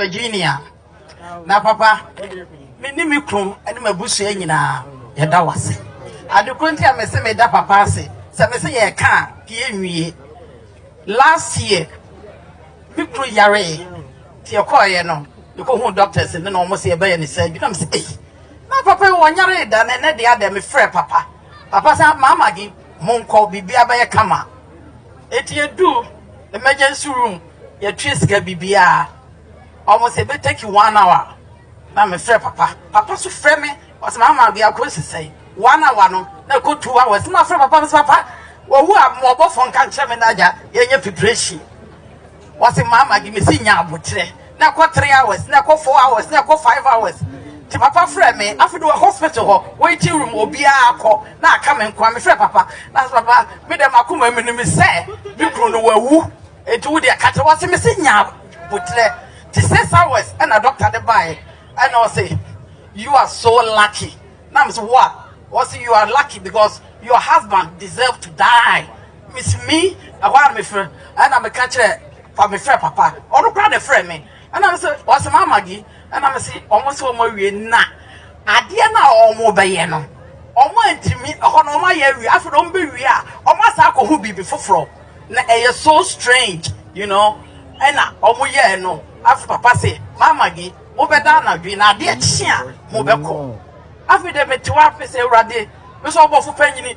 Virginia, na papa, me ne me kunu ne m'abusua nyinaa yɛda wo ase. Ade koro nti a me se meda papa ase sɛ me se yɛka a pie nwie. Last year, me kunu yaree nti yɛkɔɔeɛ no, yɛkɔhuu doctors no na wɔn se yɛbɛyɛ ne surgery. Na me se ei, na papa yi wɔnyaree da na ɛnɛ deɛ adɛ mefrɛ papa. Papa sɛ maama gi monkɔ biribiara bɛyɛ kama. Eti yɛduu emergency room. Yɛtue sika bibiaa ɔmo sɛ bɛ take one hour na me frɛ papa papa so frɛ me ɔsɛ mama biako esi sɛn one hour no na ɛkɔ two hours na frɛ papa mesɛ papa wɔwu a mo ɔbɔfo nka nkyerɛ me n'agya yɛnyɛ preparation ɔsɛ mama gye mesi nya abokyerɛ na ɛkɔ three hours na ɛkɔ four hours na ɛkɔ five hours ti papa frɛ me afei wɔ hospital hɔ waiting room obiara akɔ na aka me nkoa me frɛ papa na papa me dɛm akoma mi no mi sɛ me kunu no wawu. Enti wo deɛ ka kyerɛ wɔn se mese nya boterɛ te six hours ɛna doctor de baeɛ ɛna ɔse you are so lucky na mese what ɔse you are lucky because your husband deserve to die mese me ɛhɔ a mefrɛ ɛna meka kyerɛ pa mefrɛ papa ɔno kora ne frɛ me ɛna mese ɔse ma amagi ɛna mese ɔmo se ɔmo awie na adeɛ na ɔmo bɛyɛ no ɔmo antimi ɛhɔ na ɔmo ayɛ awie afei na ɔmo bɛwie a ɔmo asa akɔho biribi foforɔ na ɛyɛ so strange you know ɛna ɔmo yɛɛ no afei papa se mama gi mo bɛ da anadwi na adeɛ kye a mo bɛ kɔ afei dɛ mete wa afei sɛ awurade mesɛ ɔbɔfo panyini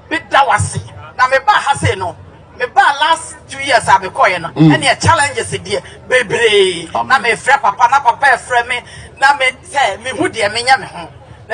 meda wase na meba ha se no meba last two years a mekɔɛ no mm. ɛneɛ challenges deɛ bebree na mefrɛ papa na papa ɛfrɛ me na me sɛ mehu deɛ menyɛ me ho na